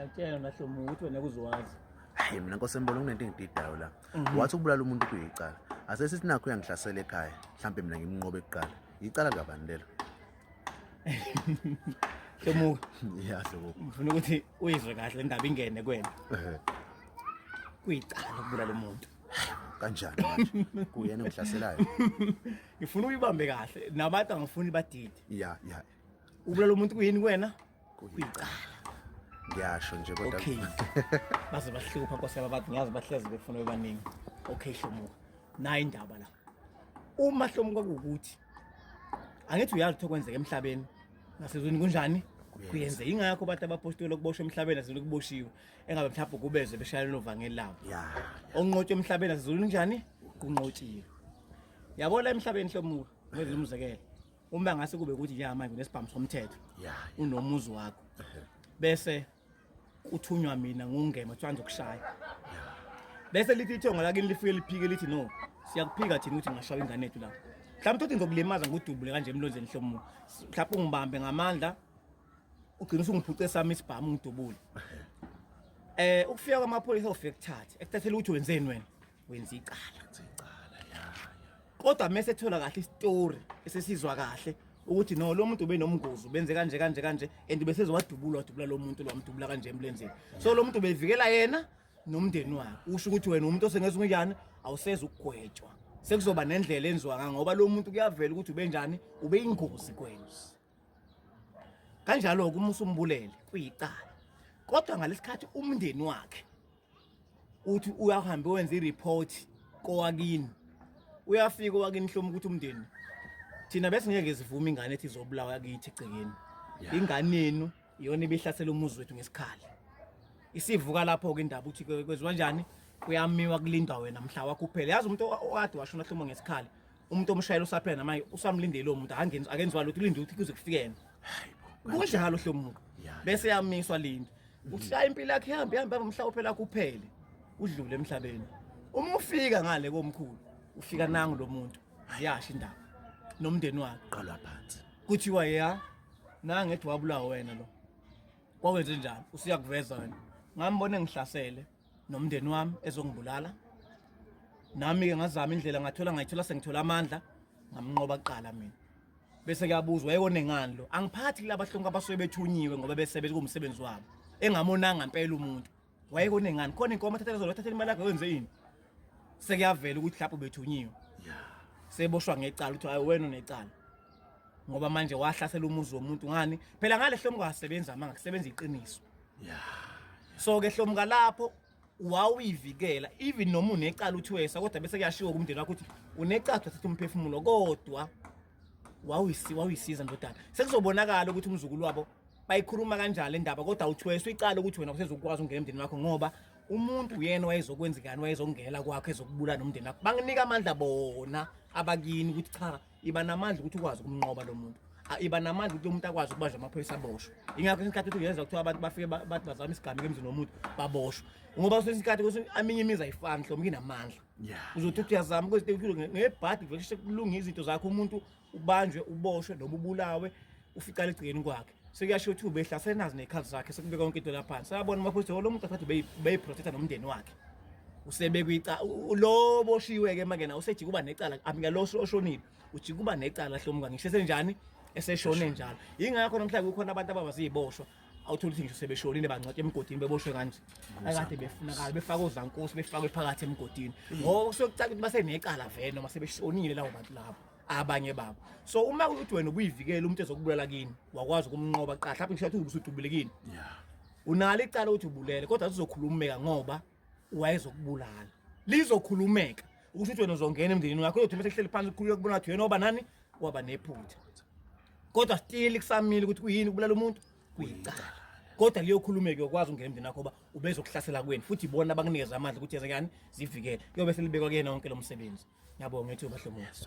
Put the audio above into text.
Ngiyakutshela mina Hlomu ukuthi wena kuzowazi. Hayi mina Nkosi embona kunento engididayo la. Mhm. Wathi ukubulala umuntu kuyicala. Ase sithi nakho uyangihlasela ekhaya. Mhlambe mina ngimnqobe kuqala. Icala kabani lelo? Hlomu. Yeah Hlomu. Ngifuna ukuthi uyizwe kahle indaba ingene kwena. Ehhe. Kuyicala ukubulala umuntu. kanjani manje kuyena ngihlaselayo ngifuna uyibambe kahle nabantu angifuni badide ya ya ubulala umuntu kuyini kwena kuyicala ngiyasho nje kodwa okay baze bahlupha nkosi yababantu ngiyazi bahlezi befuna bebaningi okay hlomuka nayi indaba la uma hlomuka kukuthi angithi uyazi ukuthi okwenzeka emhlabeni nasezweni kunjani kuyenze ingakho abantu abapostoli okuboshwa emhlabeni asizulu kuboshiwe engabe mhlawumbe kubeze beshayela novangeli labo onqotshwe emhlabeni asizulu njani kunqotshiwe yabona emhlabeni hlomuka ngenza umzekelo uma ngase kube ukuthi ya manje unesibhamu somthetho unomuzi wakho bese uthunywa mina ngungema kuthiwa ngizokushaya bese lithi ithongo lakini lifike liphike lithi no siyakuphika thina ukuthi ngashaya ingane yethu la mhlawumbe uthi ngizokulimaza ngudubule kanje emlonzeni hlomo mhlawumbe ungibambe ngamandla ugcina usungiphuce sami isibhamu ngidubule eh ukufika kwamaphoyisa ofike kuthathe ekuthathela ukuthi wenzeni wena wenza icala icala ya kodwa mese thola kahle istory esesizwa kahle ukuthi no lo muntu ubenomngozi benze kanje kanje kanje and bese zowadubula wadubula lo muntu lwamdubula kanje emlenzeni so lo muntu bevikela yena nomndeni wakhe usho ukuthi wena umuntu osengeza unjani awuseza ukugwetshwa sekuzoba nendlela enziwa ngoba lo muntu kuyavela ukuthi ubenjani ubeyingozi kwenu kanjalo-ke uma usumbulele kuyicala kodwa ngalesikhathi umndeni wakhe uthi uyahambe wenza i-report kowakini uyafika owakini hloma ukuthi umndeni thina besingeke sivume ingane ethi izobulawa kithi egcekeni ingane yenu iyona ibihlasela umuzi wethu ngesikhali isivuka lapho-ke indaba ukuthi kwenziwa njani kuyamiwa kulindwa wena mhla wakho uphele yazi umuntu okade washona hloma ngesikhali umuntu omshayela usaphela namanje usamlindele lo muntu akangenzi akenziwa lutho ulinde ukuthi kuze kufike yena kunjalo hle umuntu bese yamiswa lindi uhlaya impilo yakhe ihambe ihambe baba mhla uphela kuphele udlule emhlabeni uma ufika ngale komkhulu ufika nangu lo muntu ayasho indaba nomndeni wakhe qalwa phansi kuthiwa ya nangethi wabulawa wena lo kwawenze njani usiyakuveza wena ngambona engihlasele nomndeni wami ezongibulala nami-ke ngazama indlela ngathola ngayithola sengithola amandla ngamnqoba kuqala mina bese kuyabuzwa yekonengani lo angiphathi kulaba hlonke abasuke bethunyiwe ngoba bese bekuwumsebenzi wabo engamonanga impela umuntu wayekonengani khona inkomo athathele zona athathele imali yakhe wenze yini sekuyavela ukuthi lapho bethunyiwe seboshwa ngecala ukuthi hayi wena unecala ngoba manje wahlasela umuzi womuntu ngani phela ngale hlomuka asebenza amanga kusebenza iqiniso so ke hlomuka lapho wawuyivikela even noma unecala uthi wesa kodwa bese kuyashiwo kumndeni wakho ukuthi unecala uthatha umphefumulo kodwa wawuyisi wawuyisiza ndodana sekuzobonakala ukuthi umzukulu wabo bayikhuluma kanjalo indaba kodwa uthweswa icala ukuthi wena usezokwazi ungena emndeni wakho ngoba umuntu uyena wayezokwenzekani wayezongela kwakho ezokubulala nomndeni wakho banginika amandla bona abakini ukuthi cha iba namandla ukuthi ukwazi ukumnqoba lo muntu iba namandla ukuthi umuntu akwazi ukubanjwa amaphoyisa aboshwe ingakho isikhathi ukuthi uyenza kuthiwa abantu bafike bathi bazama isigameko emzini womuntu baboshwe ngoba kwesinye isikhathi kwesinye aminye imizi ayifani hlomke inamandla Yeah. Uzothi uthi uyazama ukuthi ukhulu ngebhadi vele sheshe kulunga izinto zakho umuntu ubanjwe uboshwe noma ubulawe uficala egcikeni kwakhe. Sekuyasho ukuthi ubehla senazi nekhadi zakhe sekubeka yonke into lapha. Sayabona mafuthu oh, lo muntu asathi beyi beyi protector nomndeni wakhe. Usebekwe ica u- lo boshiwe ke mangena usejika uba necala amika lo oshonile ujika uba necala hlomuka ngisho senjani eseshone njalo. Ingakho namhlanje kukhona abantu ababaziboshwa awutholi ukuthi ngisho sebeshonile bangcwatshwa emgodini beboshwe kanje akade befunakala befaka ozankosi befakwe phakathi emgodini ngoba kusuke kucaca ukuthi basenecala vele noma sebeshonile lawo bantu labo abanye babo so uma kuthi wena ubuyivikela umuntu ezokubulala kini wakwazi ukumnqoba qala mhlawumbe ngisho ukuthi usudubulekile unalo icala ukuthi ubulele kodwa uzokhulumeka ngoba wayezokubulala lizokhulumeka ukuthi uthi wena uzongena emndenini wakho uyothi mase kuhleli phansi kukhululeka kubona ukuthi wena oba nani waba nephutha kodwa still kusamile ukuthi kuyini ukubulala umuntu kuyicala kodwa liyokhulumeka uyokwazi ukungena emndenini wakho uba ubezokuhlasela kweni futhi ibona abanginikeza amandla ukuthi yenze kani zivikele kuyobe selibekwa kuyena wonke lo msebenzi ngiyabonga ethuba hlomuzi